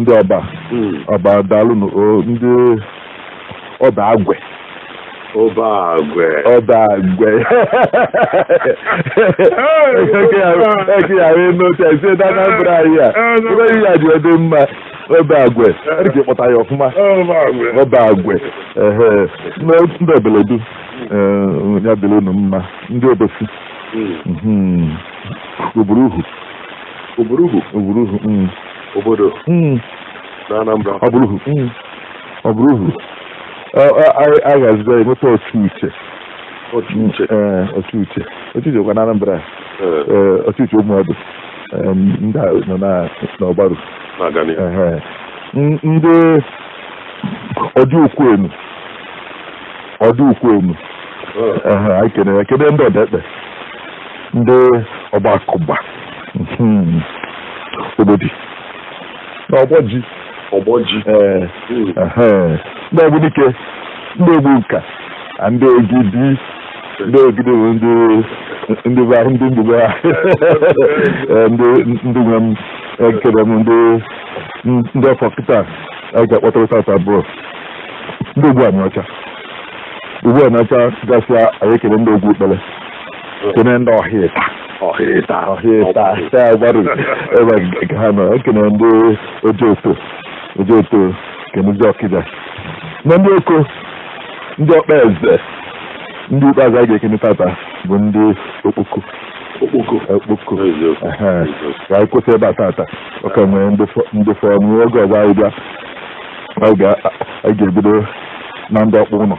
ndị ọba Mm. ọba daalụ nụ o ndị ọba agwe Oba agwe. ọba agwe eke ya wee n'otu a sie na Anambra anyị a ebe ihe ya ji adị mma ọba agwe adị ka ịkpọta ya ọfụma Oba agwe. ọba agwe ehe ndị ndị Obeledu eh, ya dịrị unu mma ndị Obosi Mm. mhm, oburuhu Oburuhu. Oburuhu. Mm. Obodo. Mm. Na Anambra. Oburuhu. Mm. Oburuhu. A ga-azụta ya nweta Ochuche. Ochuche. Ee, Ochuche. Ochuche kwa na Anambra. Ee, Ochuche Ụmụọdụ. Ndị a nọ n'Ọgbaru. Na-aga n'ihu. Ndị ọdị ukwu enu. Ọdị ukwu enu. Anyị kene ya. Kene ndị Odekpe. Ndị Ọgbakụba. Hmm. Ogboji Ogboji Ogboji ee hmm. ehe. ndị Ogbunike ndị Ogbunka na ndị Ogidi ndị Ogidi bụ ndị ndị be ahụ ndị mgbugbe ha Ee, ndị ndị nwe m ekene m ndị ndị ọ fọ kịta a ga-akpọtara tata bụ ndị Ogwu Aniocha Ogwu Aniocha gasịa anyị ekene ndị Ogwu Ikpele kene ndị Ohita Ohita Ohita Ọgbaru ebe ka ha nọ ekene ndị Ojoto Ojoto kene ndị Ọkịja na ndị Oko ndị Okpeze ndị ikpeazụ a ga-ekene tata bụ ndị Okpoko Okpoko Okpoko eziokwu Ehe. eziokwu. ka anyị kwụsị ebe a tata ọ ka nwere ndị fọ- ndị fọrọ n'oge ọzọ anyị bịa anyị ga- anyị ga-ebido na ndị Okpuno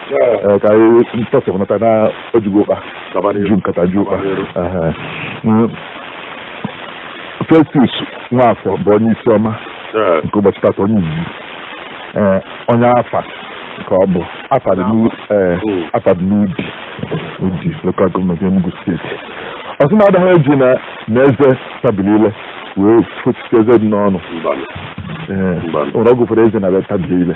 Ee, ka anyị tọsịpụ nkata na o jugo ụkpa Gaba n'ihu. ju nkata ju ụkpa Gaba n'ihu. Ehe. Mm. Festus Nwafọ bụ onye isi ọma Ee, nke ụbọchị tata onye izizi Ee, onye Affa ka ọ bụ Affa dị n'u- ee, Mm. Affa dị n'Udi Udi local government Enugu State ọ sị na adịghị eji na na eze tabili ile wee fụchite eze dị n'ọnụ mbanụ. Ee, Mbanụ. ụra ọ gụfere eze na be tabili ile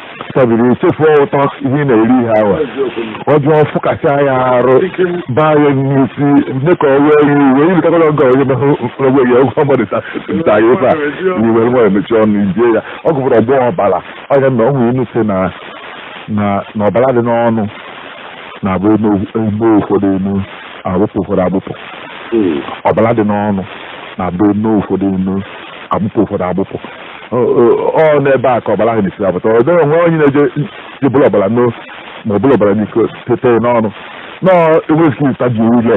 tabiri echefuo ụtọ ihe ị na-eri ihe ahụ ọjọọ fụkasịa ya arụ baa ya n'isi mee ka ọ wee ya iwe iri kakọrọ ọgọ onye mehụ ogbe ya ụgwọ mmadụ ta ya ebe a iwe nwa emechi ọnụ ijie ya ọ gụbụrụ ọgbọ ọbara ọ nya na o nwere inu sị na na ọbara dị n'ọnụ na-abụ e noo ụfọdụ eno a bụpụ ụfọdụ abụpụ ọbara dị n'ọnụ na-abụ e noo ụfọdụ eno a bụpụ ụfọdụ abụpụ ọ n'ebe a ka ọbara ahụ na-esi apụta ọ dịghị onwe onye na-eje ji buru ọbara ṅụọ ma o buru ọbara n'iko tete n'ọnụ no i nwere ike ịtabi ile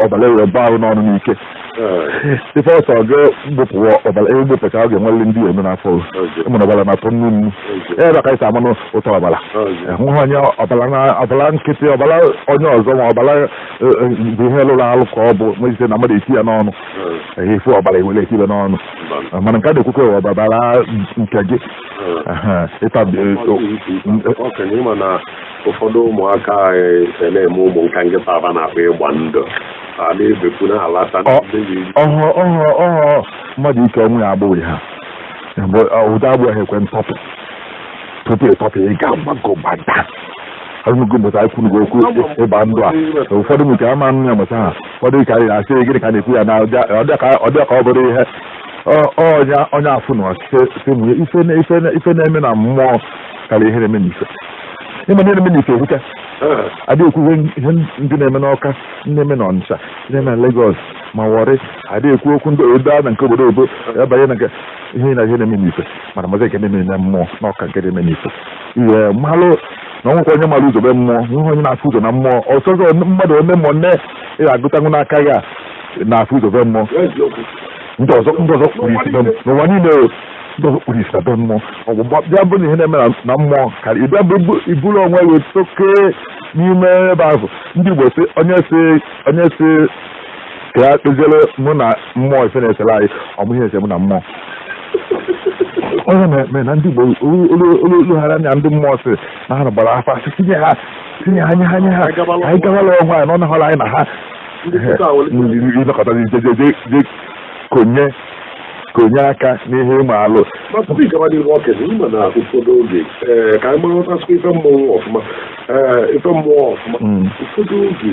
ọbara ewere gbaa gị n'ọnụ n'ike ife ọsọ gaa gbụpụwa ọbara ị gbụpụcha ọ ga-enwere ndị eme n'afọ mana ọbara na-atọ nnu nnu ebe ka i si amalụ ụtọ ọbara hụ onye ọbara nkịtị ọbara onye ọzọ ma ọbara bụ ihe lụrụ alụ ka ọ bụ mejite na mmadụ eti ya n'ọnụ efu ọbara ewere etibe n'ọnụ mana nke a na-ekwukwa ọbara nke gị ịtabi ụfọdụ ụmụaka anyị na-eme ụmụ nka nkịta aba na-akpa ịgba ndụ a na-ebekwu na-alata ọhọ ọhọ ọhọ mmadụ ike onwe ya agbụ ha ụdị agbụ ahụ ekwe ntọpụ tupu ịtọpụ ị ga-agbago gbada ahụgo mgbe anyị kwuru okwu ịgba ndụ a ụfọdụ nke ama nụ ya mụta ha ụfọdụ ka anyị asị gịnị ka a na-ekwu ya na ọ dị ha ka ọ bụrụ ihe ọnya onye afụ na ọsịmụnye ife na-eme na mmụọ karịa ihe na-eme n'ife ị ma ihe na-eme n'ife ekwuka adị ekwuwe ihe ndị na-eme n'Ọka ndị na-eme na Ọnịcha ndị na-eme na Lagos ma Warri adị ekwu okwu ndị obodo a na nke obodo obo abanye na ihe na ihe na-eme n'ife mana mazi nke na-eme na mmụọ na ọ ka nke na-eme n'ife ị malụ na o nwekwa onye mara ụzọ be mmụọ nweghị onye na-afụ ụzọ na mmụọ ọ sọsọ mmadụ one ma one ị ga-agụtanwụ n'aka gị a na-afụ ụzọ be mmụọ ndị ọzọ ndị ọzọ kpụrụ isi be mmụọ n'ụwa niile o ndị ọzọ kpụrụ isi na be mmụọ ọgwụ bịa bụ na ihe na-eme na- na mmụọ karịa ịbịa bụ iburu onwe gị toke n'ime ebe ahụ ndị Igbo si onye si onye si ka ya kpeziere mụ na mmụọ ife na-esere anyị ọ ma ihe ese mụ na mmụọ onye na-eme na ndị Igbo olu ha anya ndị mmụọ si na ha gbara afa asị tinye ha tinye ha nye ha nye ha anyị gabala ọgwụ anyị na ọ nahọrọ anyị na ha ị nọkata jejeje konye konye aka n'ihe ị malụ tupu ị gaba n'ihu okenye ị ma na ụfọdụ oge ka anyị marụtasịkwa ife mmụọ ọfụma ife mmụọ ọfụma ụfọdụ oge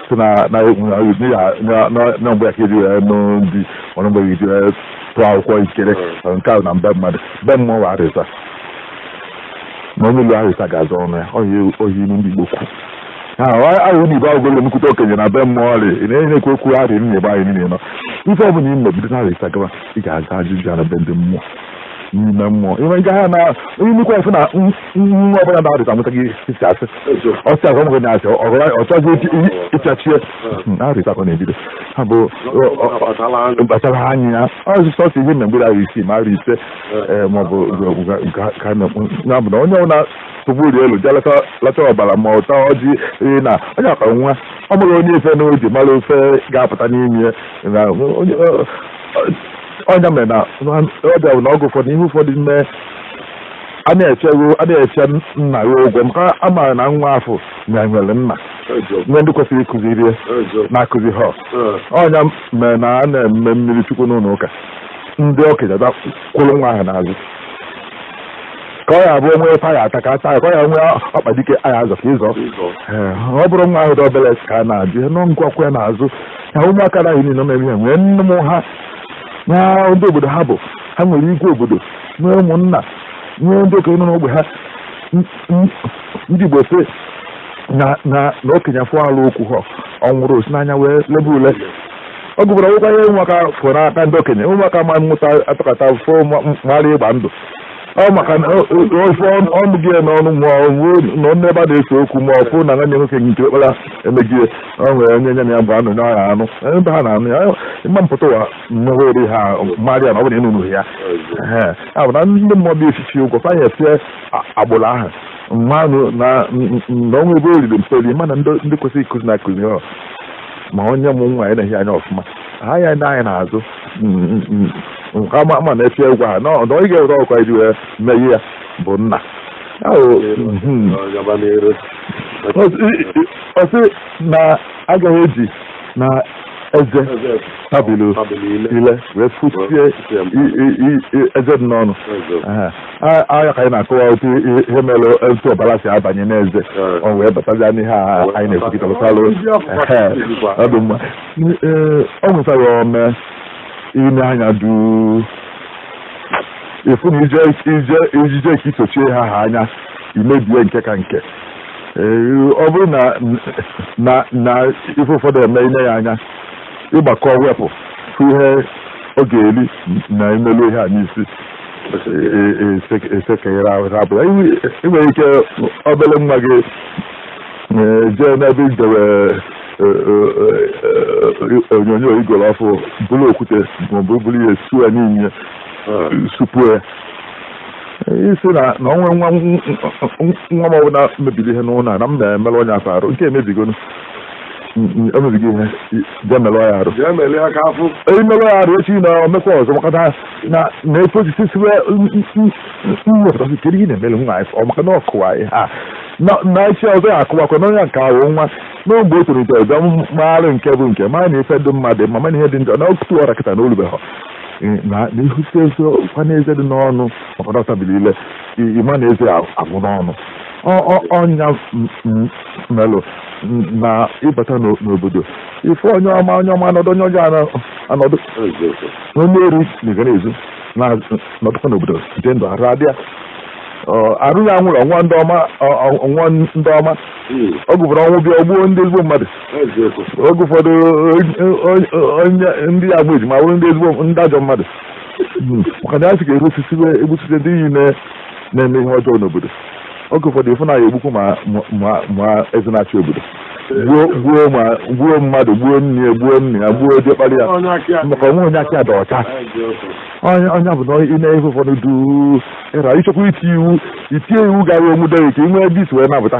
si na na mgbe ya ka eji wee nụ ndị ọrụ mgbe ya eji wee tụọ akwụkwọ ikere nke ahụ na be mmadụ be mmụọ wa arịza na onye ụlọ arịza ga-aza ọnụ ya oyi ilu ndị igbo kwu ahụ na igbo agwụgolo nnukwute okenye na be mmụọ ọrị ị na-enye ekwe okwu arị nna igbe anyị niile nọ ife ọ bụla i me bido na arịza gaba ị ga-aza ajụjụ ya na be ndị mmụọ n'ime mmụọ ime nke ha na onye nnukwu efe na nwa ọbụla n'arọ ịsaa amụtaghị ịsị asị ọ sị asị ọmụgị na-asị ọ chọzi ịchachie arọ ịsaa ka ọ na-ebido ya bụ kpachara anya ya ọzụ sọsị ihe na mgbe arọ isii ma arọ ise maọbụ ka na bụ na onye ọbụla tụbụri elu jee lata ọbara ma ụta ọjị na onye akpa nwa ọ mụrụ onye ife n'oji mara ofe ga-apụta n'ime onye mere na ọ bịa bụ na ọgụ ụfọdụ ihe ụfọdụ mee a na-echego a na-eche nna ya ụgwọ maka a maara na nwa afụ nwere nna nwee ndị kwesịrị ịkụziri ya na akụzihọ ọ nya mere na a na-eme mmiri chukwu n'ụlọ ụka ndị okenye bịa kwụrụ nwa ahụ n'azụ ka ọ ya abụ o nwee ụta a ya-ata ka a taa ya ka ọ ya nwee ọkpa dị ka a ya-azọ ka ị zọọ Ee, ọ bụrụ nwa ahụ dị obere ka a na-ajụ ya nọ ngwakwa ya n'azụ ya ụmụaka na niile nọ na-eme ya nwee nne mụ ha na ndị obodo ha bụ ha nwere igwe obodo nwee ụmụnna nwee ndị okenye nọ n'ogbe ha ndị Igbo sị na na na okenye afụ alụ o kwuhọ ọ nwụrụ o si n'anya wee lebe ule ọ gụbara nwekwa ihe ụmụaka fụrụ n'aka ndị okenye ụmụaka amụta atọkọta fụ mara ịgba ndụ ọ maka na ofe ọnụ gị n'ọnụ ma ọ bụ na ọnụ ebe a na-ese okwu ma ọ fụ na nwanne nwoke nke ọkpara emegie ọ nwere onye nya na ya gba ndụ na ọ ya-anọ ebe ha na-aṅụ ya ịma mpụta ụwa mmụọ ori ha mara na ọ bụrụ ị na-aṅụ ya a bụ na ndị mmụọ bi efifi ụgwọ fanye sie agbụrụ ahụ mmanụ na o nwe ebe o riri mperi mana ndị kwesịrị ịkụzi na akụzihọ ma onye mụ nwa ya na-ehi anya ọfụma ha ya ndị anyị na-azụ nke ama ama na efi egwu ha na ọ dọghị ga-ewere ọkwa iji wee meghe ya bụ nna ọ sị na agaghị eji na eze tabili ile wee fochie eze dị n'ọnụ ọ nya ka anyị na-akọwa otu ihe mere etu ọbara si abanye n'eze ọ wee batazia n'ihe a anyị na-ekwu kịta lụtalụ ọ dị mma ọ nwetara ome ị nee anya duu ị fụ na ije ije ejije ka i sochie ha ha anya i mebie nke ka nke ọ bụrụ na na na ife ụfọdụ eme i lee ya anya ị gbakọ wepụ ifu ihe ọ ga-eri na i melu ihe a n'isi esekere ahụ abụla i nwere ike obere nwa gị jee n'ebe i dewe onyonyo i goro ọfụụ buru okwute maọbụ buru ihe suo ya niile supue ị sị na na onwe nwa nwa m ọbụla mebiri ihe n'ụlọ a na m na-emerụ onye afụ arụ nke emebigonu emebigo ihe jee merụ ya arụ Jee melie aka afụ. emelụ ya arụ echi na o mekwa ọzọ maka na na na efe osisi siwe mmepụtasị kedu ihe na-emere nwa anyị ọ maka na ọ kụwa anyị ha na na echi ọzọ ya akụwakwa na onye nke ahụ nwa n'ogbe o tolite ọzọ maara nke bụ nke mara na ife dị mma dị mma mana ihe dị njọ na otu ọra kịta na o lubeghọ na ihute eze kwa n'eze dị n'ọnụ maka na ọ tabili ile ị ma na eze agwụ n'ọnụ ọ ya melụ na ị bata n'obodo ị fụ onye ọma onye ọma anọdụ onye ọjọọ anọdụ onye ori na-ega na-ezu na-anọdụkwa n'obodo dị ndụ arụ adịa arụ ya nwụrụ ọnwa ndị ọma ọ ga-abụrụ ọnwụ bịa o gbuo ndị ezigbo mmadụ oge ụfọdụ onye ndị ya bụ ejima bụrụ ndị ezigbo ndị ajọ mmadụ maka na ya sị ka egbusite ndị iyi na-eme ihe ọjọọ n'obodo oge ụfọdụ ị fụ na ya egbukwu ma eze na-achị obodo gbuo mmadụ gbuo nne ya gbuo nne ya gbuo diọkpara ya maka o nwe onye aka dị ọcha onye ọbụna ị na-efe ụfọdụ du ịra ichekwa iti iwu itinye iwu ga-anwụde ka ị nwee dis wee napụta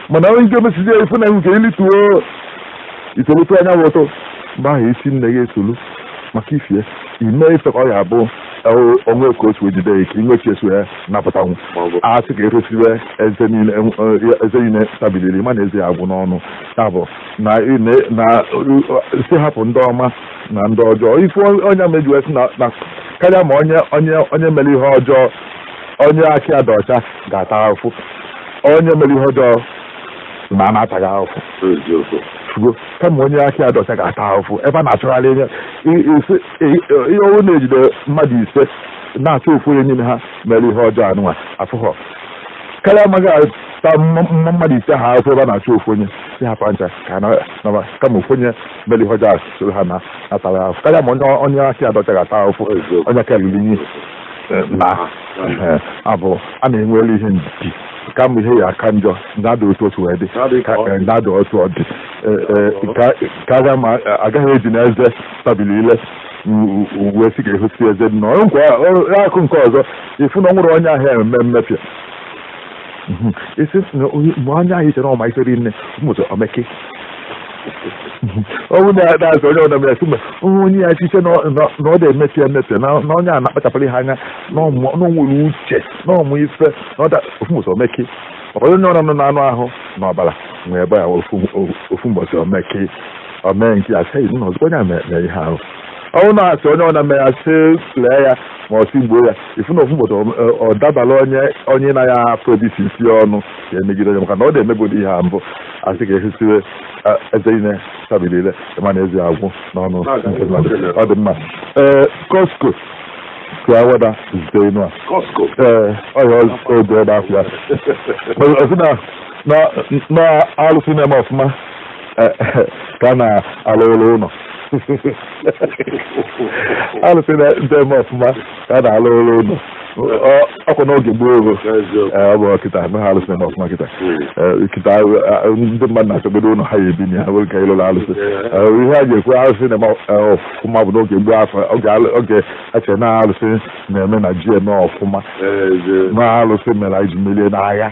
mana onye nke mesizi ya ị fụ na nke ilituo i tolite anya bụ ụtọ mgbe ahụ isi nne gị esolu maka ifie ime ife ka ọ ga-abụ onwe ka o si ejide ya ka inwe chi eso ya napụtanwu a sị ka e resiwe eze niile eze niile tabili ile ma na eze ya agwụ n'ọnụ ya bụ na na sị hapụ ndị ọma na ndị ọjọọ ife onye mejuwe si na na karịa ma onye onye onye mere ihe ọjọọ onye aka ya dị ọcha ga-ata afụ onye mere ihe ọjọọ naa na-ataghị ahụfụ fugo kama onye aka ya dị ọcha ga-ata ahụfụ ebe a na-achọgharị ihe ihe ọ bụ na e jide mmadụ ise na-achọ ofu onye n'ime ha mere ihe ọjọọ anụnwa afụghọ karịa ma a ga-ata mmadụ ise ha ahụfụ ebe a na-achọ ofu onye sị hapụ ncha kama ofu onye mere ihe ọjọọ soro ha naa ataghị ahụfụ karịa ma onye aka ya dị ọcha ga-ata ahụfụ onye aka luru inyi eh, na eh, abụ a na-enwere ihe ndidi kama ihe ya aka njọ nya dị otu o si wee dị nya dị otu ọ dị ka a gaghị eji na eze tabili ile wee sị ga-ehosi eze dị n'akụkụ nke ọzọ ị fụ na ọ nwere onye ahịa eme mmepịa Mhm. esi na onye mgbe anya anyị chere ọma isori nne mmụta o meke ọnwụ na-asị onye ọdọ mere sụgbe nwa onye ya chiche na ọ na-emepe emepe na onye a na-akpachapụrụ ihe anya na o nwere uche na ọ ma ife ofu mbọsị o meke ọbara onye ọrụ nọ n'anụ ahụ na ọbara nwee ebe ya ofu mbọsị o meke o mee nke ya sị na ọzọ onye a na-eme ihe ahụ ọnwụ na-asị onye ọdọ mere ya sị lee ya ma ọ tigbuo ya ịfụ na ofu mbọsị ọ- ọ dabara onye onye na ya afọ ebisi isi ọnụ ya emegide onye maka na ọ na-emegodi ihe a mbụ a sị ka ehisiwe eh, eze ine tabili ile ịma na eze agwụ n'ọnụ nke mmadụ. ọ dị mma ee kosko ka Awada zite inu a Costco. ee ọya oge ebe afọ ya ọ sị na na na alụsị na-eme ọfụma ka a na-alụlụ ụnọ alụsị na-eme ọfụma ka a na-alụlụ ụnọ Ọ- ọ kwa n'oge gboo ogo Ee, ọ bụ kịta na ha alụsị na-eme ọfụma kịta Ee, kịta eh, ndị mmadụ na-achọgodo ụnọ ha ya-ebi na ya nwere ka ịlụlụ alụsị Ee, ihe a ga-ekwu alụsị na-eme eh, ọfụma bụ n'oge gboo afụ oge alụ- oge a chere na alụsị na-eme na ji eme ọfụma na alụsị mere anyị ji merie n'agha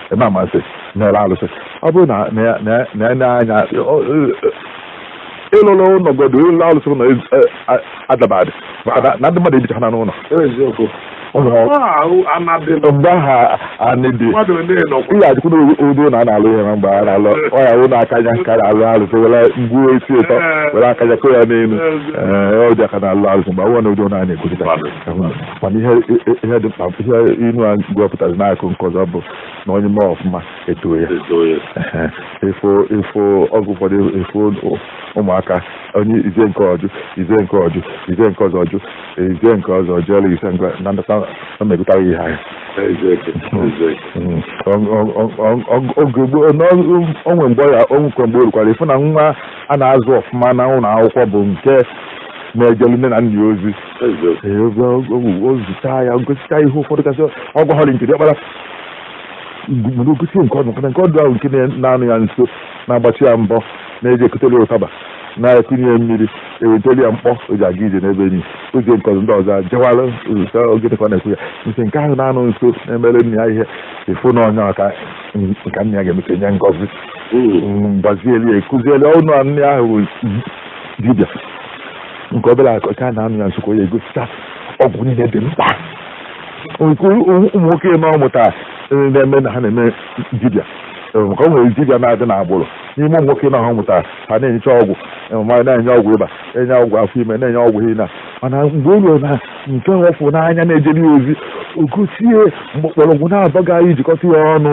eme amasị na-ere alụsị ọ bụrụ na na ya na ya- na ya na-anya ọ- ọ- ịlụlụ ụnọ godo ịlụlụ alụsị ụnọ adabadị maka na- na ndị mmadụ ebichaha n'ụnọ eziokwu ụlọ ọ ahụ anadị nọ mgbe ahụ anị dị mmadụ ole nọkwa ihe ajụkwụ n'ụdị ụnọ a na-alụ ihe na mgbe a na-alụ ọ ya ụnọ akanya ka a na-alụlụ alụsị were ngwuo isi ụtọ were akanya kụọ ya n'elu Ee, ụdị a ka a na-alụlụ alụsị mgbe ahụ na ụdị ụnọ a na-ekwurịta mana ihe ihe dị mkpa ihe inu a gwapụtara n'akụkụ nke ọzọ bụ na onye mee ọfụma etoo ya ịfụ ịfụgo ụfọdụ ịfụ ụmụaka onye i zie nke a ọ jụ i zie nke a ọ jụ i zie nke ọzọ ọ jụ i zie nke ọzọ ọ jụ ọla i zie nke na ndata ọ megụtara ihe ahụ o nwe mgbe ọ ya o nwekwa mgbe o rukwara ịfụ na nwa a na-azụ ọfụma na ụlọ akwụkwọ bụ nke na-ejelu nne na nna ya ozi ozụta ya gosita ihe ụfọdụ kasị ọ gwahọrị nke ọkpara mana o gosi nke ọdụ maka na nke ọdụ ahụ nke na-anọ ya nso na-agbachi ya mbọ na-eje ekuteli ụtaba na-ekunye ya mmiri eweteli ya mkpọ o ji aga ije n'ebe enyi o zie nke ọzọ ndị ọzọ jewara ozụta oge dịka ọ na-ekwu ya nke nke ahụ na-anọ nso na-emere nna ya ihe ịfụ na ọ nya ka ka nna ya ga-emecha nye ngọzi gbazieli ya akuzieli ọnụ nna ahụ dibịa nke obere a kacha na-anọ ya nso ka ọ ya-egosicha ọgwụ niile dị mkpa nke ụmụ nwoke na ọ mụtara eh, na-eme na ha na-eme dibịa Eh, maka o nwere dibịa na-adị n'agbụrụ n'ime ụmụ nwoke na ha mụtara ha na-enyecha ọgwụ eh, ma na-enye ọgwụ ịba enye ọgwụ afọ ime na-enye ọgwụ ihe na mana mgbe o ruo na nke nwa ọ fụ n'anya na-ejere ya ozi o gosi ya mgbọrọgwụ naabọ ga i jikọta ya ọnụ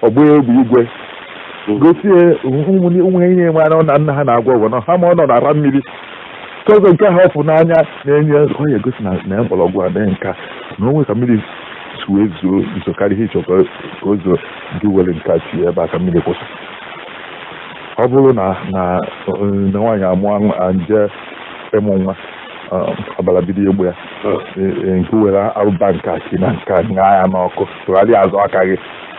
ọ gbaa egbe igwe gosi ya ụmụ- ụmụ ihe niile mara na nna ha na-agwọ ọgwụ na ha ma ọ nọ na-ara mmiri ka ọzọ nke ha ọfụ n'anya na-enye ọ ya egosi na na mgbọrọgwụ a na nke a na o nwe ka mmiri si wee zoo ezo karịa ihe ị chọ ka o- ka o zoo gị were nke a tinye ebe a ka mmiri kwụsị ọ bụrụ na na eh, na nwaanyị amụọ nwa- a nje ịmụ nwa eh, ọbara bido ịgba ya eh, eh, nke were abụba nke a si na nke a ṅaa ya n'ọkụ tụgharịa azụ aka gị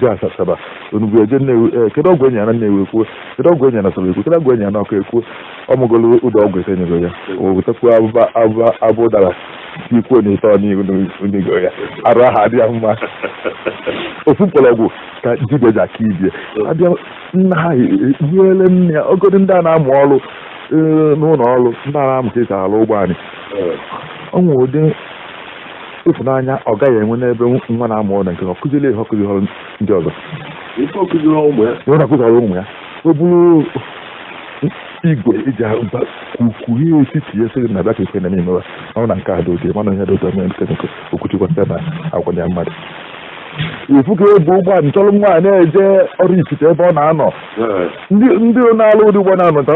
jee asaba onugbu eje nnewi ee kedu ọgwụ enyere na nnewi ekwuo kedu ọgwụ enyere na asaba ekwuo kedu ọgwụ enyere na ọka ekwuo ọ ṅụgolo ụdị ọgwụ ete nyego ya o wetakwa abụba abụba abụ ụdara ikwuo n'ite ọn'ihu o nyego ya arụ ahụ adị ya mma ofu mkpọrọgwụ ka dibịa ji aka ibe ya abịa nna ha ekpughere nne ya ogodo ndị a na-amụ ọrụ ee, n'ụlọ ọrụ ndị a na-amụ ka esi arụ ụgbọ anyị o nwere ụdị ịfụnanya ọga ya enwe n'ebe nwa na-amụ ọrụ nke ọ kụziri ihe ọ kụzirọ ndị ọzọ Ife ọ kụziri ụmụ ya. na ọ na-akụziri ụmụ ya ọ bụrụ igwe eji agba kwukwuhie etiti ya sịrị na bịa ka ife na-eme imewa ọ na nke a dị oge mana ihe dị ụtọ mere nke nke Okwuchukwu site na agwa ya mmadụ ifu ka ebu ụgbọala chọrọ nwa a na-eje Oraifite ebe ọ na-anọ Ee. ndị ndị na-alụ ụdị ụgbọ n'Ọnịcha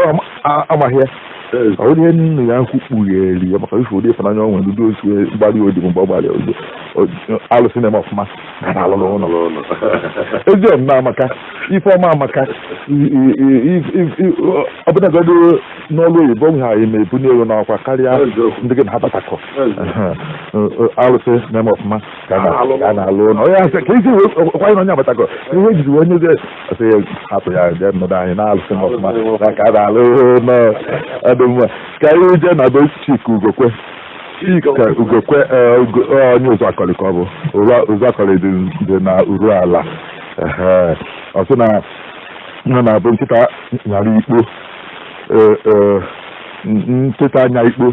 amaghị ya ọ bụrụ ihe nna ya ukwu kpughere ya maka ife ụdị ịfụnanya o nwe ndị osi mgbali odi mgbe ọ gbalị odibo alụsị na-eme ọfụma ka a na-alụrụ ụlọ ezi omume amaka ife ọma amaka ọ bụnagodu n'ọlụ oyibo nwe ihe ị ya-eme ebunie gị n'ọkwa karịa ndị gị na ha batakọ alụsị na-eme ọfụma ka a na-alụ ka a na-alụ ụlọ onye asị ka isi wee kwanye na onye agbatago ihe ejiri wee nye gị asị ya hapụ ya jee nọdụ anị na alụsị na-eme ọfụma na ka a na-alụ ụlọ ọ dị mma ka anyị jee na be Chika Ugokwe Chika Ugokwe ee, Ugo- ee, onye Ụzọakọlị ka ọ bụ Ụra- Ụzọakọlị dị dị na Uruala Ehe. ọ sị na nna na-abụ nkịta nyara ikpo ee, ee, n- nkịta nya ikpo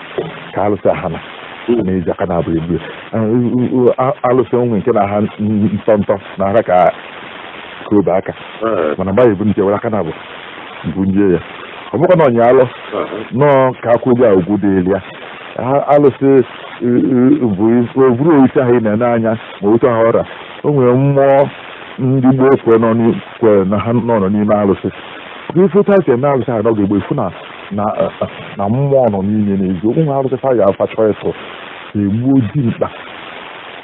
ka alụsị ahụ a na-eji aka naabọ ebu alụsị o nwe nke na-aha ntọ ntọ na-ara ka obe aka mana mgbe ebu nje were aka naabọ bunie ya ọ bụkwa na ọ nyị alọ nọọ ka a kwanye ya ugwu dịrị ya alụsị abụrọ osisi ahụ ị na-ene anya ma otu ahụ ọ ra o nwere mmụọ ndị gboo kwere na ha nọ n'ime alụsị ife otu esi eme alụsị ahụ n'oge gboo ifu na na eh, eh, na mmụọ nọ n'ime n'eziokwu arụsị fa ya a fa chọ ịtụ egbuo dimkpa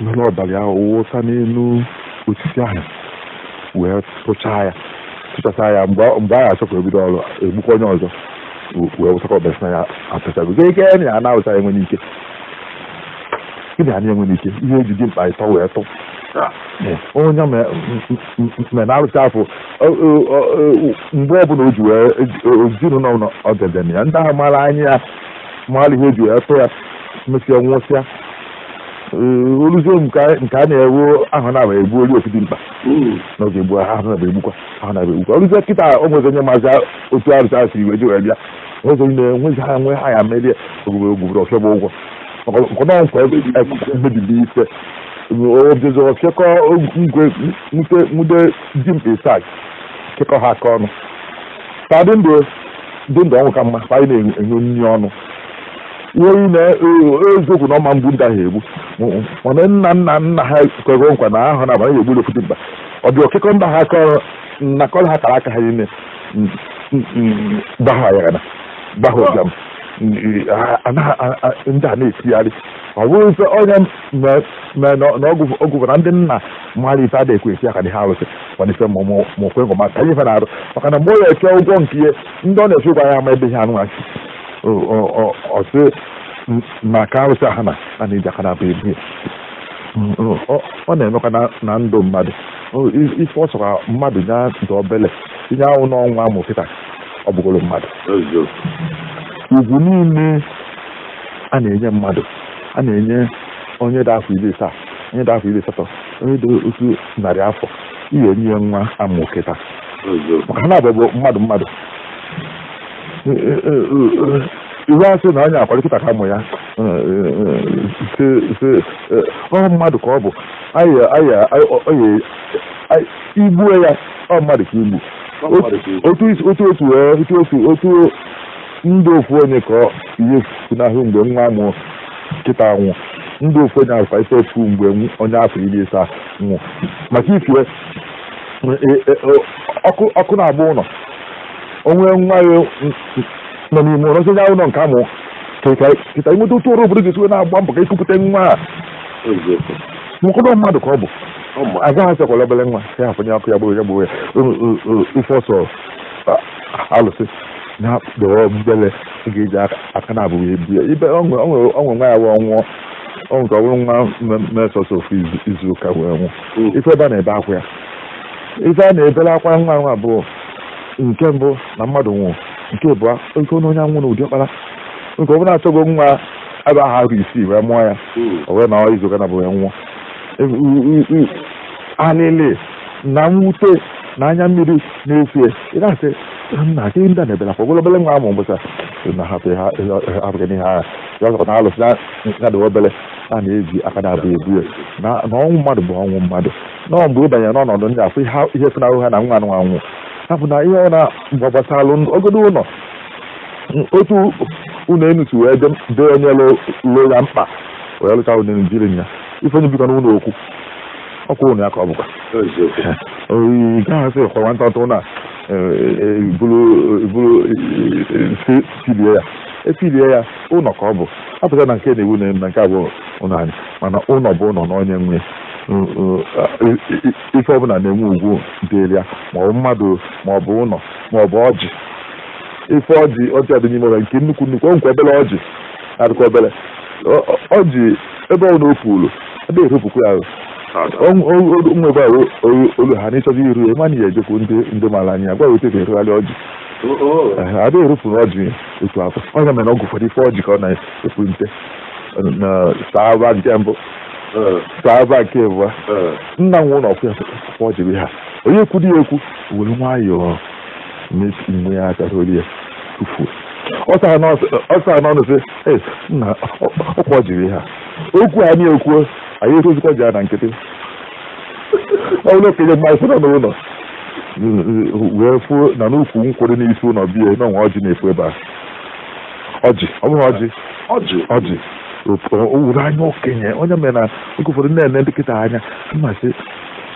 were ọbara ya wụsa n'elu osisi ahụ wee tụchaa ya tụchasa ya mgbe mgbe a ga-achọkwa ibido ọrụ egbukwa onye ọzọ we- wee wụsakwa ọbara sị na ya atụchago gị ike na ya na-awụsa enwe n'ike gị na ya na-enwe n'ike ihe eji dimkpa ịtọ wee tụ onye ma mere na arụsị afọ mgbe ọbụla o ji wee ezinụlọ na ọgede na ya ndị ahụ mara anya ya mara ihe eji wee tụ ya mesịa nwụsịa o luzie nke a na-ewu ahụ na-aba egbu olu ofu dimkpa na oge egbu ahụ na-aba egbukwa ahụ na-aba egbukwa o luzie kịta o nwezi onye mazi otu arụsị ahụ siri wee ji wee bịa nwezi onye na-enwezi ha nwe ha ya merie ogbugbe ogbubere ọfịa bụ ụgwọ maka na nkwa mebiri ife obidozoro kekọ ngwe nwute nwude dimkpa isaa kekọ ha aka ọnụ ha dị ndụ dị ndụ ọnwụ ka mma ka anyị na-enye nri ọnụ ihe na eziokwu na ọma mgbu ndị ahụ egbu mana nna nna nna ha kwego nkwa na ahụ na abanye egbu ofu dimkpa ọ bịa kekọ ndị ha aka ọrụ nakọrọ ha kara aka ha niile gbaghara ya na gbaa ụbịam Ndị- a- a- na- a- a- ndị a na-etigharị ọ bụrụ ife onye me- me- na na ọgwụ ọgwụ bụ na ndị nna mmadụ ife adịghị ekwe etie aka n'ihu arụsị mana ife ma mụ ma okwe ngoma ka ihe ife na-arụ maka na mgbe ọ na-eche ụgwọ nke ihe ndị ọ na-eche ụgwọ ya ama ebe ihe anụ achị ọsị na ka arụsị aha na a na-eji aka naabọ ebu ya Mm, mm, ọ ọ na-emekwa na- na ndụ mmadụ O, i- ife ọ sọkwa mmadụ nya dị obele tinye anwụ na nwa a mụ kịta ọ bụgoro mmadụ ugwu niile a na-enye mmadụ a na-enye onye dị afọ iri asaa onye dị afọ iri asatọ onye dị otu narị afọ ị ya-enye ya nwa a mụ kịta maka na ọ bụ mmadụ mmadụ e, e, e, iwe asị na onye akwado kịta ka a mụ ya ọ mmadụ ka ọ bụ i gbuo ya ọ mmadụ ka i gbu otu otu wee otu otu otu ndị ofu onye ka ihe funahụ mgbe nwa a mụ kịta nwụ ndị ofu onye afa ife efu mgbe onye afọ iri isaa nwụ maka ife e, e, ọkụ na-agba ụlọ o nwee nwa ya nọ n'ime ụlọ nsonye ụlọ nke a mụ kịta ị mata otu ọra obodo ga-esi wee na-agba mbọ ka e kupụta nwa a mkpụrụ mmadụ ka ọ bụ agaghị asịkwa na obere nwa ya afụnye ọkụ ya gboo ya gboo ya ife ọ sọ alụsị nya dị obele ga-eji aka naabọ ebu ya ibe ọ nwere nwa ya wee nwụọ ọ nke ọ bụrụ nwa mee sọsọ ofu izu ụka wee nwụ hmm. ife ebe a na-ebe akwa ya ife a na-ebere akwa nwa nwa abụọ nke mbụ na mmadụ nwụrụ nke abụọ oke onye onye anwụ na ụdị ọkpara nke ọ bụ na achọgo nwa ebe ahụ arọ isii wee mụọ ya hmm. o wee nọọ izu ụka naabọ wee nwụọ alịlị na mwute na anya mmiri na-efie ị na-asị nna gị ndị na-ebela kwa ogolobele nwa amụ mbụsa na hapụ ha abụghị n'ihe agha ya ọzọkwa na alụsị na-adị obele a na-eji aka naabọ ebu ya na ọnwụ mmadụ bụ ọnwụ mmadụ na ọ mgbe ị banyere n'ọnọdụ ndị afụ ihe funahụ ha na nwa nwụnahụ ha bụ na ihe ọ na-agbasalụ ogodo ụlọ otu ụlọ enu si wee dee onye lụ ya mkpa wee lụcha ụlọ enu dịrị ya ife onye bikọ n'ụlọ okwu ọ kwụrụ na ya ka ọ bụkwa ị gaghị asị kwa nwata ọtụ na buru filie ya efilie ya ụlọ ka ọ bụ apụta na nke na-ewu na na nke abụọ ụlọ anyị mana ụlọ bụ ụlọ na onye nwe ife ọbụla na-enwe ugwu dịrị ya maọbụ mmadụ maọbụ ụlọ maọbụ ọjị ife ọjị ọjị adị n'ime ụlọ nke nnukwu nnukwu ọ nkwa obere ọjị adịkwa obere ọjị ebe ọbụna o pulu adịghị eropukwa ya nwe ebe ahụ olu ha n'ịchọzi iru ya mana ya ejekwu ndị ndị mara anya gwa wete ka e rogharịa ọjị adịghị eropu na ọjị otu afụ ọ ya mere oge ụfọdụ ị fụ ọjị ka ọ na-efu nte na saaba nke mbụ saaba nke abụọ nna nwe ụlọ ọkụ ya ọjị bụ ha onye kwudi ya ekwu were nwayọọ na-esi mgbe ya aka rolie ya tufuo ọ saa n'ọnụ sị ee nna ọkwa ọjị ha okwu anyị ekwuo anyị etozikwa ji ya na nkịtị ọ bụrụ okenye mmadụ nọ n'ụlọ wee fuo na n'ukwu nkwụrụ n'isi ụlọ bịa na o nwe ọjị na-efu ebe a ọjị ọ bụghị ọjị ọjị ọjị owuru anya okenye ọ ya mere na oge ụfọdụ na-ene ndị kịta anya m asị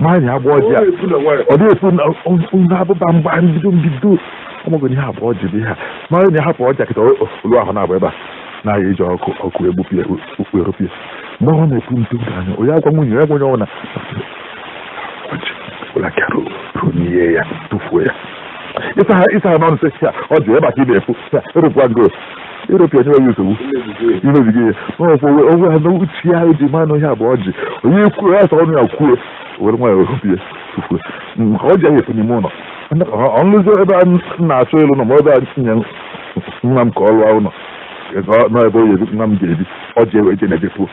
nwaanyị agba ọjị a ọ dị efu na ụlọ abụba mgbe mbido mbido ọmọgụ ihe a bụ ọjị bụ ihe a mara na hapụ ọjị kịta olu ahụ na-abụ ebe a na-aya eji aka aka egbupụ ya okpu eropu ya mgbe ọ na-epu ntu anya onye agwa nwunye ya gwenye ọnwụna ụlaka ronie ya tụfuo ya ịsa ha ịsa ha n'ọnụ sị ya ọ dị ebe a ka ị na-efu ya eropu ya ngo eropu ya enweghị nsogbu imebiga ihe n'ọkwa onwe onwe ha n'uche ya eji ma anụ ihe a bụ ọjị onye kwuo ya sa ọnụ ya kwuo were nwayọọ ropu ya tufuo maka ọjị ahụ efu n'ime ụlọ ọ bụzị ebe a na-achọ ịlụ ụlọ ma ebe e nye nwa m ka ọ lụọ ụlọ n'ebe onye nwa m ga-ebi ọjị ewe eje na-ejepuo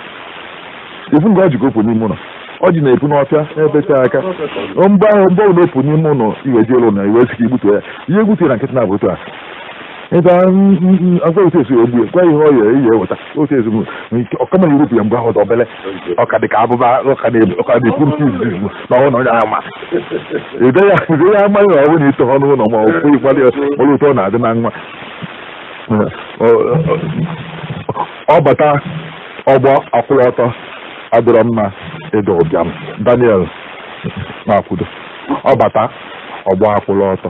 ifu nke ọjị ka opu n'ime ụlọ ọjị na-epu n'ọfịa n'ebe tere aka mgbe ahụ mgbe ọ na-epu n'ime ụlọ iwe ji ụlọ na i wee sị ka igbutu ya ihe egbutu ya na nkịtị na-abụ otu a ebe agwaghịsi esi egbu ya gwa ihe ọ ya eyi eweta otu ezinụlọ ọkama yuropu ya mgbe ahụ dị obele ọka dị ka abụba ọka na-ekwu nke izizi mgbe na ọhụrụ onye ama ide ya ide ya amaghị na ọ bụrụ na ito ha n'ụlọ ma ọ bụ ịkwado ya kpọrọ ụtọ ọ na-adị na nwa ọ bata ọgbọ akwụrụ ọtọ adịrọ mma ịda ụbịam daniel na-akwudo ọ bata ọgbọ akwụrụ ọtọ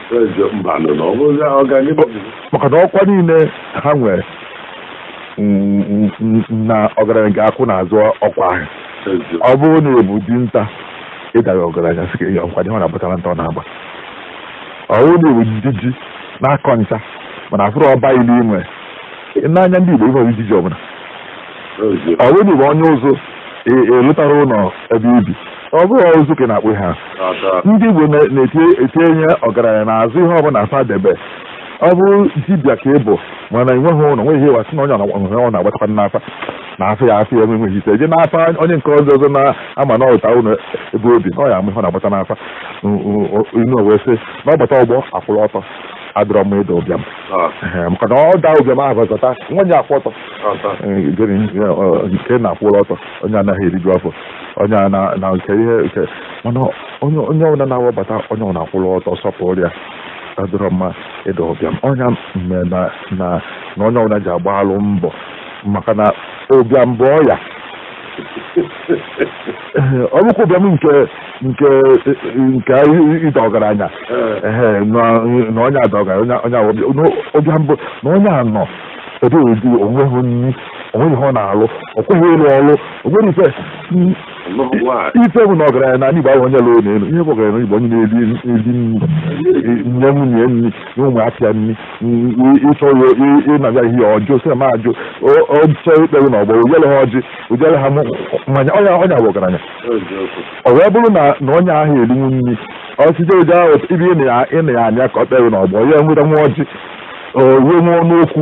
maka na ọkwa niile ha nwere na ọgaranya ga-akwụ n'azụ ọkwa ahụ ọ bụrụ na ị bụ dinta ị dahị ọgaranya sị ka ihe ọkwa dị ọ na-agbata na nta ọ na-agba ọ bụrụ na ị bụ di ji na-akọ ncha mana afụrọ ọba ili i nwe n'anya ndị Igbo ị bụrọ di ji ọbụla ọ bụrụ na ị bụ onye ụzụ ị lụtarọ e, e ụlọ ebe i bi ọ bụrụ ụzụ ka ị na-akpụ ha ndị Igbo na-etinye ọgaranya n'azụ ihe ọbụla fa debe ọ bụrụ dibịa ka ị bụ mana i nweghị ụlọ nweghị ihe wasị na onye ọ na-agbatakwa n'afa na afa ya afa ya enwe nweghị ike je n'afa onye nke ọzọ ọzọ na-ama na ọ lụta ụlọ ebe o bi na ọ ya ama ihe ọ na-agbata n'afa inu wee sị na ọ bata ọgbọ akwụrụ ọtọ adịrọ mma ịda ụbịam ah. maka na ọ daa ụbịam ahụ zọta nwa ya akwụ ọtọ nke na-akwụrụ ọtọ onye anaghị eriju afọ onye a na nke ihe nke mana onye ọbụla na ọ bata onye ọbụla akwụrụ ọtọ sọpụrụ ya adịrọ mma ịda ụbịam ọ nya mee na na onye ọbụla ji agbalụ mbọ maka na ụbịam bụ ọya ọ bụkwa ụbịam nke nke nke ịda ọgaranya na onye ada ọgaranya onye ụbịam bụ na onye a nọ ebe ọ dị o nweghị nri o nweghị ihe ọ na-alụ o kweghị ịlụ ọlụ o nwere ife ife bụ na ọgaranya na anị igbo ahụ onye lụrụ ụnọ elu ihe bụ ọgaranya igbo onye na-eri eri nri nye nwunye nri nye ụmụaka ya nri ịchọ ya ịnabịa ihe ọjụ sị ma ajụ ọ chọ ikpere na ọgbọ o chele ha ọjị o chele ha mmanya ọ nya ọ nya bụ ọgaranya ọ wee bụrụ na na onye ahụ erinwu nri ọsịje oje ahụ ibe ịna ya anya ka ọ kpere na ọgbọ ya nweta nwa ọjị onye nwe ọnụ okwu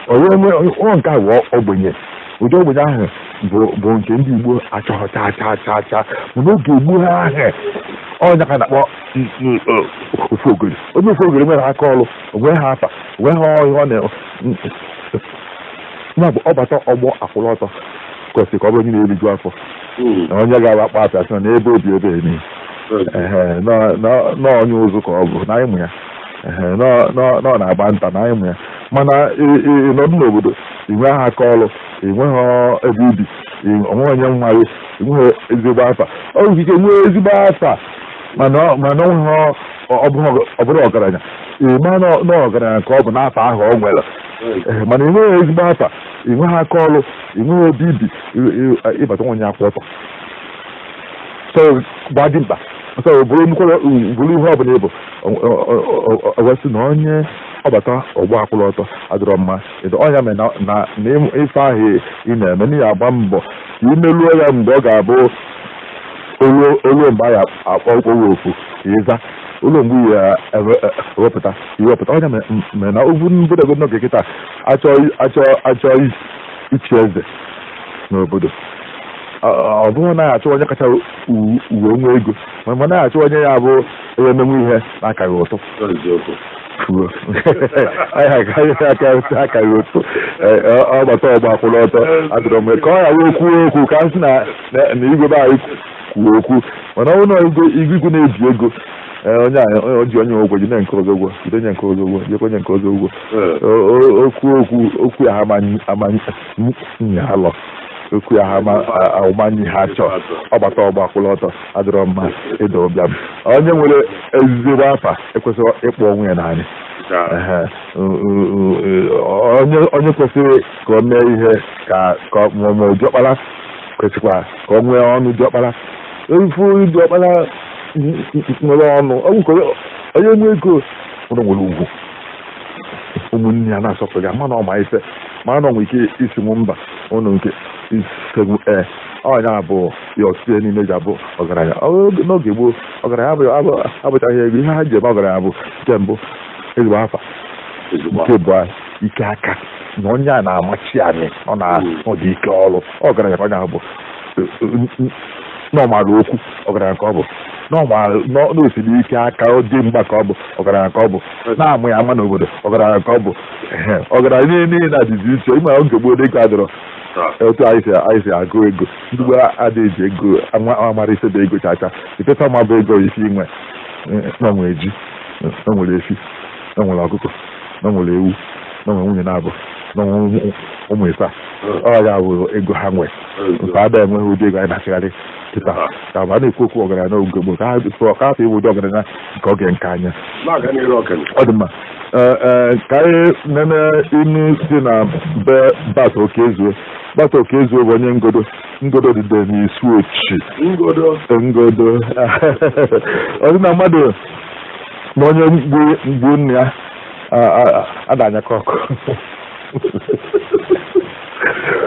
onye nwe ọ nke a bụ ogbenye ụdị ogbenye ahụ bụ bụ nke ndị igbo achọghị chaa chaa chaa chaa mana oge egbu ha ahụ ọ nya ka a na-akpọ n- n- o- ofogori onye ofogori enwerọ aka ọrụ o nwehị afa o nwehị ọhịa ọ na ya bụ ọ bata ọgbọ akwụrụ ọtọ kwesịrị ka ọ bụrụ onye na-eriju afọ Mm. na onye ga-awa akpa apịa sị na n'ebe o bi ebe eme Ehe, na- na- na onye ụzụ ka ọ bụ na ịmụ ya nọ na-agba nta na anyị mụ ya mana ịnọdụ n'obodo ị nweghị aka ọrụ enweghị ebe ibi onweghị onye nwa gị enweghị ezigbo afa ọ nwere ike nwee ezigbo afa mana onweghị ọ bụrụ ọgaranya ịma na ọgaranya ka ọ bụ n'afa ahụ ọ nwere mana ị nweghị ezigbo afa ị nweghị aka ọrụ ị nweghị ebe ibi ịbata nwa onye akwụ ọtọ so gbaa dimkpa so bụrụ ihe ọbụla ịbụ e wee sị na onye ọbata ọgba akwụrụ ọtọ adịrọ mma ọ nya mere na na ịmụ- ife ahụ ị na-eme na ya agba mbọ ka imeluo ya mgbe ọ ga-abụ o lu- o luo mgbe a ya akpọ okporo ofu ka ịza o luo mgbe a ya ewepụta i wepụta ọ nya mere m- mere na ogwu mbodogo n'oge kịta achọ achọ achọ i- ichi eze n'obodo ọ ọ bụrụ na achọ onye kacha u- wee nwee ego ma ma na-achọ onye ya bụ onye emenwu ihe na-akaghị ụtụ fuo akaghị ụtụ ọgbata ọgba kwụrụ ọtọ adịrọ mma ka ọ ghara okwu okwu ka m sị na igwe be anyị kwuo okwu mana ọ bụrụ na igwe na-ebi ego onye a ji onye ụgwọ ji nke ọzọ ụgwọ jide onye nke ọzọ ụgwọ jidekwa onye nke ọzọ ụgwọ okwu okwu okwu ya ha ama anyị alọ okwu ya ha ama anyị ha chọọ ọgbata ọgba kwụrụ ọtọ adịrọ mma ịda ụbịam onye nwere ezigbo afa ekwesịrọ ịkpụ onwe ya n'anị onye kwesịrị ka o mee ihe ka ọmụmụ diọkpara kwesịkwa ka ọ nwee ọnụ diọkpara ị fụ diọkpara nwere ọnụ onye nwe ego ụlọ nwere ugwu ụmụnne ya na-asọpụrụ ya mana ọ ma ife mana ọ nwere ike ịsị mba ụnụ nke isegbu ee ọ nya bụ ya ọtụtụ ihe niile ji abụ ọgaranya Ọ bụrụ n'oge gboo ọgaranya abụghị abụ- abụchaghị ego ihe ha ji eme ọgaranya bụ nke mbụ ezigbo afa ezigbo nke ịbụa ike aka na onye a na-amachi anyị ọ na ọ dị ike ọrụ ọgaranya ka onye ahụ bụ na ọ mara okwu ọgaranya ka ọ bụ na ọ mara na o siri ike aka ọ dị mgba ka ọ bụ ọgaranya ka ọ bụ na a mụ ya ama n'obodo ọgaranya ka ọ bụ Ehe, ọgaranya niile na-adịzi iche ịma oge gboo dịka adịrọ etu anyị si anyị si agụ ego ndị gboo adịghị eji ego ama amara ife bụ ego chacha ife fa ma bụ ego ife i nwe na nwere ji na nwere efi na nwere ọkụkọ na nwere ewu na nwere nwunye na-abụ na nwere ụmụ- ụmụ isaa ọ ya bụ ego ha nwee nke ada enweghị ụdị ego anyị na-achịgharị kịta ka ma a na-ekwu okwu ọgaranya n'oge gboo ka ha ka afọ iwu ụdị ọgaranya nke oge nke anya na-aga n'iru ọkene ọ dị mma Ee, ee, ka anyị nene inu si na be Bat Okezue Bat Okezue bụ onye Ngodo Ngodo dịde n'Isuochi Ngodo Ngodo ọ sị na mmadụ na onye gbuu gbuu nna ya a- a- ada anyakọ ọkụ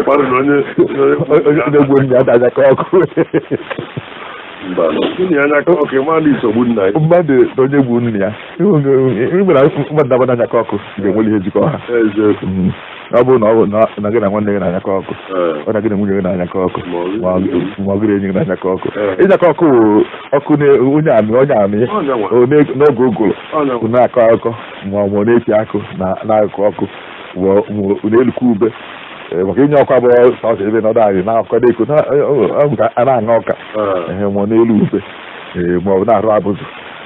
mmadụ na onye onye onye gbuu nna ya ada anyakọ ọkụ mba na anyakọ ọkụ ịma na i so gbuo nna ya mmadụ na onye gbuu nna ya ịgbara mmadụ abụọ na-anyakọ ọkụ ga-enwere ihe jikọ ha ọ bụrụ na ọ bụ na gị na nwanne gị na-anyakọ ọkụ ọ na gị na nwunye gị na-anyakọ ọkụ ma ọ gị na enyi gị na-anyakọ ọkụ ịnyakọ ọkụ ọkụ onye amị onye amị n'oge ụgụrụ na-akọ akụkọ ma ọ bụ na-eti akụ n'akụkụ ọkụ na-elukwa ube maka ịnya ọkụ abụrọ sọsọ ebe nọdụ anị na akụkọ na-eko a na-aṅa ọka ma ọ na-elu ube ma ọ bụ na-arụ abụzụ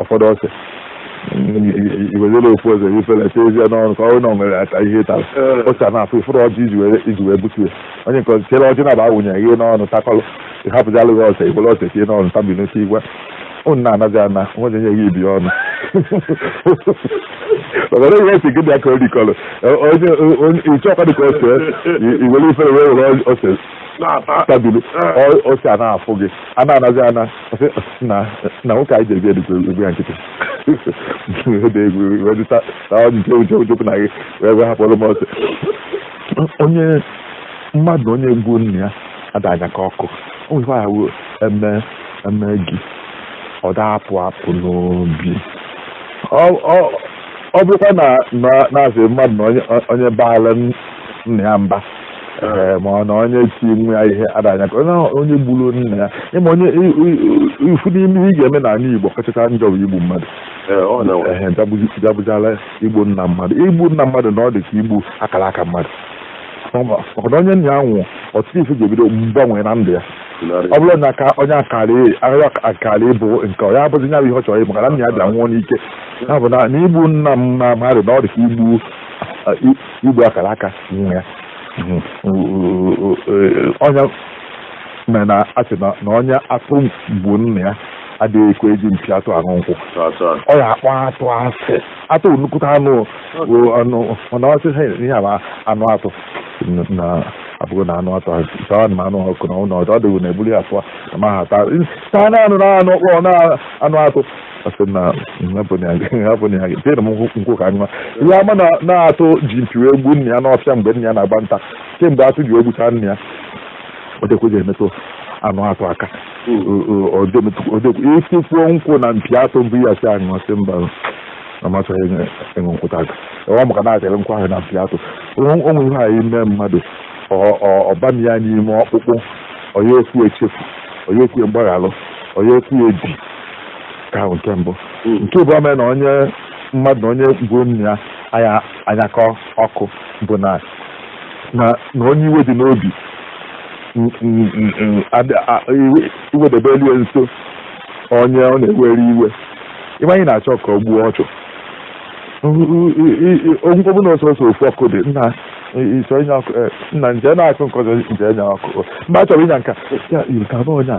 ụfọdụ ose i wezere ofu ose ifere tezie n'ọnụ ka ọrụ na nwere ata ihe tara ose a na-afụ ị fụrụ ọjị iji were iji wee butu ya onye nke ọzọ chere ọjị na-aba awụnye ihe n'ọnụ takọlụ ịhapụzalụ gị ose i were ose tie n'ọnụ tabi n'oche igwe unu na-anazi ana nwere nye gị ibi ọnụ ọgara ihe esi gị dị aka orikọlụ onye ịchọ ọkwa dị ka ose i were ifere wee were ose tabili ose a na-afụ gị a na-anazi ana na nwoke anyị jebi edikwa egwu ya nkịtị ede egwu wedịta na ọ nche uche uchekwu na gị wee wee hapụrụ m ose onye mmadụ na onye gbuu nna ya ada anyakọ ọkụ o nwekwa ya wuo eme eme gị ọ da-apụ apụ n'obi ọ bụrụkwa na na-asị mmadụ na onye baala nna ya mba ee ma ọ na onye ti nwa ya ihe ada anyakọ onye ahụ- onye gburu nna ya ịma onye i- i- i- ofu n'ime ihe ị ga-eme n'ala Igbo kachacha njọ bụ igbu mmadụ Ee, ọ na ehe jabụzi- jabụzala igbu nna mmadụ igbu nna mmadụ na ọ dị ka igbu akara aka mmadụ Ọ ma- maka na onye nna ya nwụrụ ọtụtụ ife ga-ebido mgbanwe na ndụ ya ọ bụrụ na aka onye akara ahụ akara ịbụ nke ọ ya abụzi nya bụ ihe ọ chọrọ ịbụ maka na nna ya bịa nwụọ n'ike ya bụ na na igbu nna mma- mmadụ na ọ dị ka igbu igbu akara aka nwa ya ọ ya mere na a sị na onye atụ gbuu nna ya adịghị ekwe eji mpi atụ aṅụ nkwụ ọ ya a kpọ atụ a sị atụ nnukwute anụ anụ mana ọ sị ha ihe a ma anụ atụ na abụghị na anụ atụ taa na anụ ọkụ na ụlọ ọdụ ọ dịghị na ebuli ya afọ ma ha taa taa na anụ na anụ ọkpọ na anụ atụ a sị na hapụnye ha gị m nkwụ ka nwa ihe ama na atụ ji mpi wee gbuo nna ya n'ọfịa mgbe nna ya na-agba nta kemgbe atụ ji gbuchaa nna ya o dekweghị emetụ anụ atụ aka etikwuo nkwụ na mpi atụ bunye ya sị ya ṅụọ ọ sị mba amasịghị ịṅụ nkwụta aka ọ maka na e chere nkwụ ahụ na mpi atụ o nwe ihe a ya-eme mmadụ ọ baa ya n'ime ọkpụkpụ ọ ya ekwe echefu ọ ya ekwe mgbaghalụ ọ ya ekwe edi ka ahụ nke mbụ hmm. nke bụ ome na onye mmadụ na onye gbuo nna ya ada anyakọ ọkụ bụ na na onye iwe dị n'obi iwedebe elu nso onye ọ na-ewere iwe iwe ahụ na-achọ ka o gbuo ọchụ ọ bụ na ọ sọsọ ofu ọkụ dị nna iso onye ọkụ eh, nna nje na-akụ nkọjọ nje nya ọkụ mgbe a chọrọ ịnya nka ya yiri ka onye a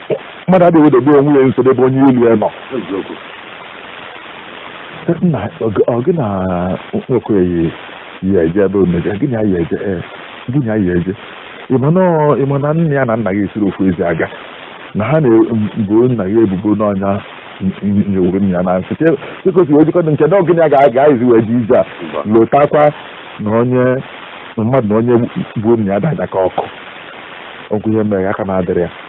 mmadụ adịghị ewedebe onwe ya nso n'ebe onye ilo ya nọ nna ọ gị na nwoke yi ya eje ebe omega gị na ya eje gị na ya eje ị ma na nna ya na nna gị esirọ ofu ezi aga na ha na-ebo nna gị ebubo na ọ nya nyegburu nna ya na nsị chekọsi wee jikọta nke na ọ gị na ya ga-agaghịzi wee ji ije a lotakwa na onye mmadụ na onye gbuo nna ya ada anyakọ ọkụ ọ bụ ihe mere aka na-adịrị ya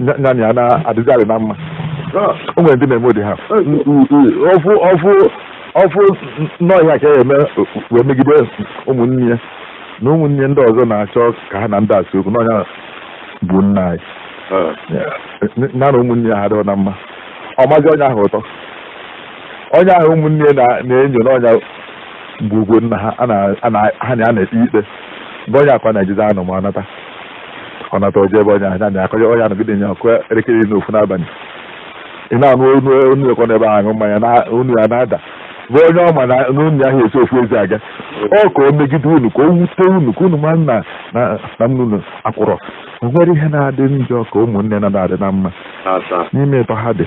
nya na ya na-adịzarị na mma o nwere ndị na-eme ụdị ha ọfụ ọfụ ọfụ n'ọhịa ka ya eme wee megide ụmụnne ya na ụmụnne ndị ọzọ na-achọ ka ha na ndị a sị okwu na ọ nya gbuo nna ya na na ụmụnne ya ha dịọ na mma ọ mazi onye ahụ ụtọ onye ahụ ụmụnne ya na-enyo na ọ nya gbugwo nna ha ha na ya na-ekpe ikpe be onye ahụ ka ọ na-ejezi anọ ma ọ nata ọ nata o je ebe onye ahụ ya na akọje onye anọgide nye ọ kụọ elekere iri na ofu n'abalị ị na-anụ onu onu ekọ n'ebe ahụ aṅụ mmanya na onu ya na-ada be onye ọ ma na na unu na ha esi ofu ezi aga ọ ka o megide unu ka o wute unu ka unu ma na na na nne unu akwụrọ o nwere ihe na-adị njọ ka ụmụnne na-adị na mma n'ime ịtọ ha dị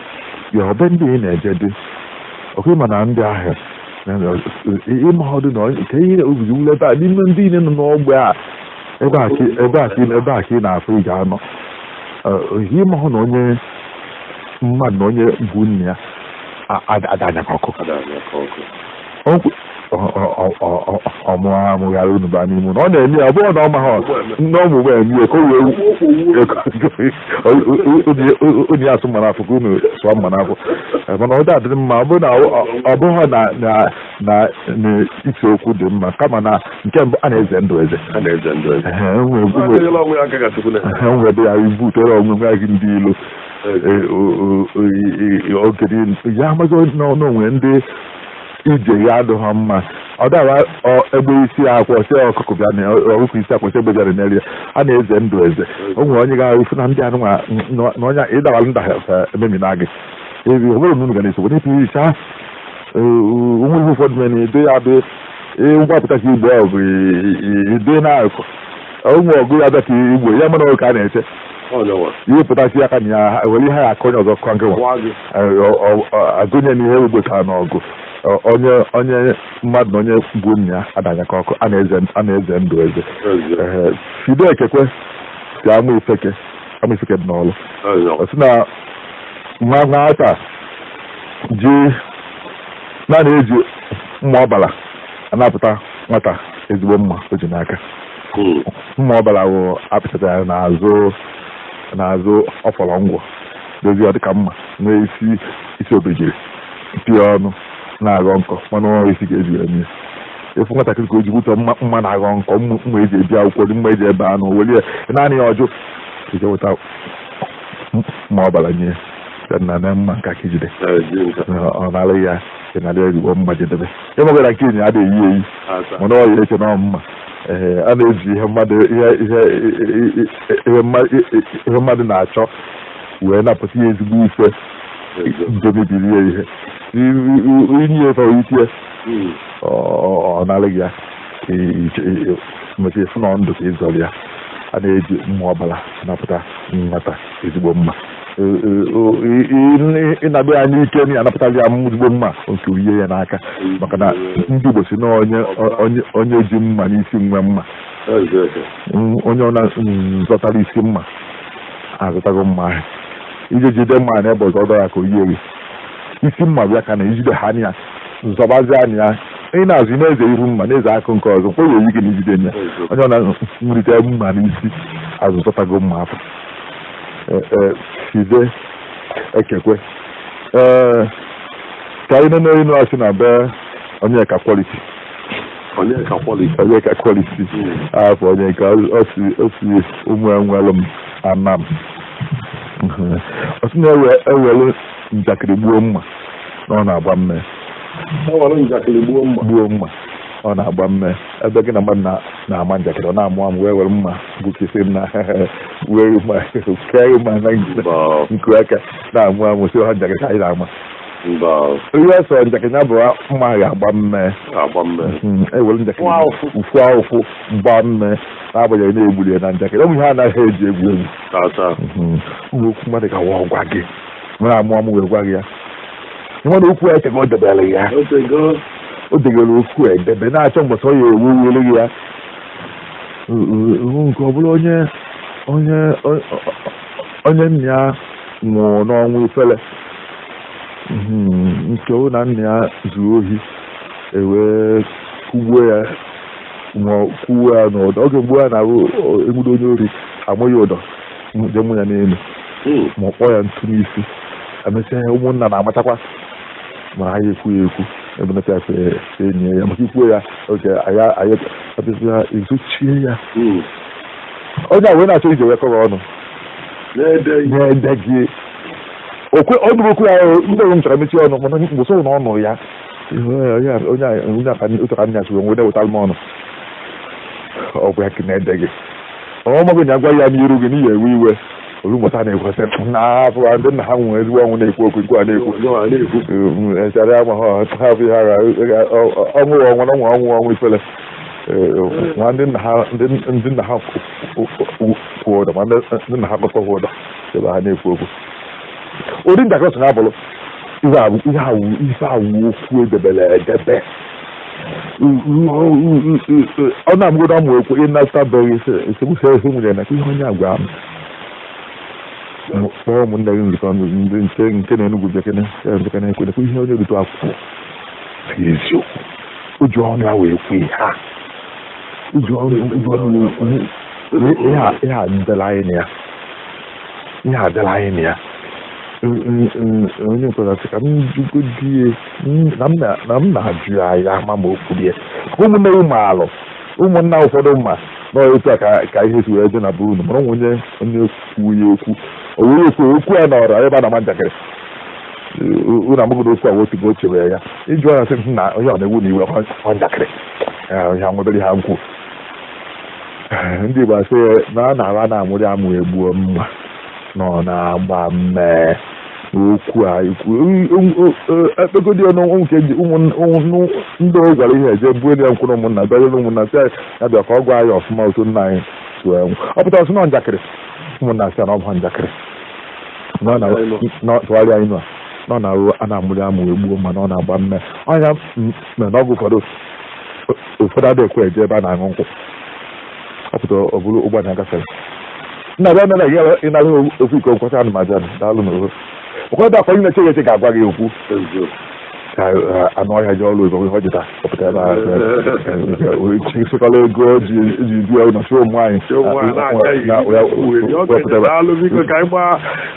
ya ọ be ndị ị na-eje dị ọkụ ị ma na ndị ahụ ị ma ọdụ na nke ihe obizi wule ebe a n'ime ndị niile nọ n'ogbe a ebe a ka ebe a ka ebe a ka ị na-afụ ị ga-anọ ihe ị ma hụ na onye mmadụ na onye gbuo nna ya ada anyakọ ọkụ ọmụha m ghara unu baa n'ime ụlọ ọ na-eme ya ọ bụrụ na ọ maghị nne ọ mụgbe eme ya ka o wee onye ya asụ mma n'afọ ka unu sụọ mma n'afọ mana ọ dadịrị mma ọ bụrụ na ọ bụghị na ise okwu dị mma kama na nke mbụ a na-eze ndụ eze enwebe ya ibu tere ọṅụṅụ ya gị ndị ilo oge ya amaghị na o nwe ndị ije ya adịghị mma ọ dara egbe isi akwa ọsị ọkụkụ bịa na ọkụkụ isi akwa ọsị egbe bịara n'elu ya a na-eze ndụ eze o nwere onye ga-ahụfu na ndị anụ na onye ịdara nda ememi na gị ebi ọ bụrụ na unu ga na-esogbu n'ịpụ isi ha onwe ihe ụfọdụ mere na edo ya bụ ngwapụta ka igbo ọgụ bụ ido na-akụ onwe ọgụ ya bịa ka igbo ya mana ka a na-eche ihe pụtasị aka na ya were ihe ya aka onye ọzọ kọ nkịwa agụnye na ihe o gbotara n'ọgụ onye mmadụ na onye bụ nna ya adanyekọ ọkụ a na-eze ndụ eze Fide Ekekwe si Amaifeke Amaifeke dị n'Ọlụ ọ sị na mma nwata ji na a na-eji mma ọbara anapụta nwata ezigbo mma o ji n'aka mma ọbara wụ a pịtara ya n'azụ n'azụ ọfọrọ ngwọ dozie ọ dịka mma nwee isi isi obejiri pịa ọnụ na-aghọ nkọ mana ọrụ isi ga-eji wee mee efu nwatakịrị ka o ji bụtọ mma na-aghọ nkọ mma eji ebe akwụkwọ nri mma eji ebe anụ welie naanị ya ọ jụ i jee weta mma ọbara nye na na mma nke a ka i jide ọ nalụ ya ị nalụ ezigbo mma jee debe ịmagara nke enyi adịghị eyi mana ọ ya eche na ọ mma a na-eji ihe mmadụ ihe mmadụ na-achọ wee napụta ya ezigbo ife nke mebiri ya ihe i nye efe itie ọ nalịghị ya maka efu na ndụ ka ị zọrọ ya a na-eji mma ọbara napụta nwata ezigbo mma ị naba ya n'ike na anapụtali ya ezigbo mma nke uye ya n'aka maka na ndị Igbo si na onye ji mma n'isi nwe mma onye ọ na zọtara isi mma azọtago mma ahụ i jee jide mma na ebe ọzọ ọ dọ ya ka o yie gị isi mma bịa ka na ijide ha anya nzọbazi anya ya ị na-azụ na-eze iru mma na-eze akụ nke ọzọ mkpụrụ oyi gị na ijide ya onye ọ na nrite mma n'isi azọtago mma afụ eh, eh, Fide Ekekwe ee eh, ka anyị nene inu a si na be Onyeka Quality Onyeka Quality Onyeka Quality afọ hmm. Onyeka o si o si Ụmụenwelum Anam ọ sị na e were njakịrị gbuo mma na ọ na-agba mme gbuo mma ọ na-agba mme ebe gị na mmadụ na-ama njakịrị ọ na-amụ amụ wee were mma gbukisi na were mma kee ya mma na nku aka na-amụ amụ sị ha njakịrị ka anyị na-ama ihe sọ njakịrị ya bụ mma ga-agba mmee hmm, ewere njakịrị ụfụ ahụfụ gba mmee n'agbanyeghị na e gbulu ya na njakịrị ụmụ ihe a naghị eji egwu egwu hmm, okwu mmadụ ga-awa ọ gwa gị na-amụ amụ wee gwa gị ya nwere okwu eteka o debere ya o debere okwu edebe na-achọ mbọsị ọ ya ewu ewere gị ya nke ọ bụla onye onye onye nna ya nwụrụ n'ọnwụ ifele nke na nna ya zuru ohi e wee kwụgbuo ya ma kwụọ ya n'ụdọ oge gboo a na e nwudo onye ori ama ya ụdọ jee mụ ya n'elu hmm. ma ọ kpọọ ya ntu n'isi emesịa ya ụmụnna na-amachakwa ma ha aya ekwu ya ekwu ebelata ya enyi ya maka i kwuo ya oge anyị abịazi ya ezochie ya hmm. onye a wee na-achọ ije wee kọrọ ọnụ na-ede gị okwe ọ dụrụ okwu ya ndị ọrụ m chọrọ mechie ọnụ mana onye mbọsị na ọnụ ya onye aka otu ka nna ya si wee nwede wetara m ọnụ ọgwụ ya ka na-ede gị ọ mago na a gwa ya n'iru gị na ị ya-ewe iwe olumọta na-ekwesị na-afụ ndị nna ha nwụrụ ezigbo ọnwụ na-ekwu okwu nke a na-ekwu echara ama ha ha bụ ihe agha ọnwụ ọnwụ ọnwụ ọnwụ ọnwụ ifele ma ndị nna ha ndị nna ha kwụ ụdọ ma ndị nna ha kọkọ ụdọ ebe ha na-ekwu okwu ụdị njakịrị so na-abụrụ ihe awụ okwu edebere edebe ọ na-amụgodu amụ ekwu ị nata be gị esemokwu ezi nwunye na ihe onye a gwa m kpọọ ụmụnne gị nzukọ ndị nche nke na enugwu bekene ya nzukọ na ekwe nekwe ihe onye rute akwụkwọ si eziokwu o ji ọnụ ya wee kwe ha o ji ọnụ ya wee kwe ha ihe a dịla anyị na ya ihe adịla anyị na ya onye nkwere sị ka m jụgodi ya na m na-ajụ ya ya ma ma okwu ya ụmụnne ụmụ alụ ụmụnna ụfọdụ ma na otu a ka ihe si wee dị na be unu mara nwe onye onye kwuo ya okwu o wee okwu okwu a nọrọ ebe a na-ama njakịrị unu amago na okwu a o tego o chebere ya ịjụ ya sị na onye ọ na-ewu na iwe ọ njakịrị onye ha nwebere ha nkwu ndị Igbo asị na a na-agha na amụrị amụ egbuo mma na ọ na-agba mmee okwu a ekpegodi ọnụ nke ndị o gwara ihe eje buo ya nkwụrụ ụmụnna bịanyere ụmụnna sị ya bịa ka ọ gwa ya ọfụma otu nna anyị si wee nwụ ọ pụtara sị na njakịrị ụmụnna sị na ọ bụ njakịrị tụgharịa inu a nọ na a na-amụrị amụ egbuo mma na ọ na-agba mmee ọnya mere n'ọgụ ụfọdụ ụfọdụ adịghị ekwe eje ebe a na-aṅụ nkwụ ọ pụtara ọ bụrụ ụgbọ na-agafere nna bịa mere ya ịnara okwu ike okwu ka anụmaja daalụ na oho ụfọdụ akwa ị na-eche eche ga-agwa gị okwu ka anụ ọhịa ji ọrụ ego ihe ọ jụta ọ pụtara na ịsịkọla ego o ji ji bịa na shoo nwaanyị Shoo nwaanyị na-acha ihe. na- ya- Uwe dị, ọ ga-eji wepụtara- daalụ biko ka anyị gbaa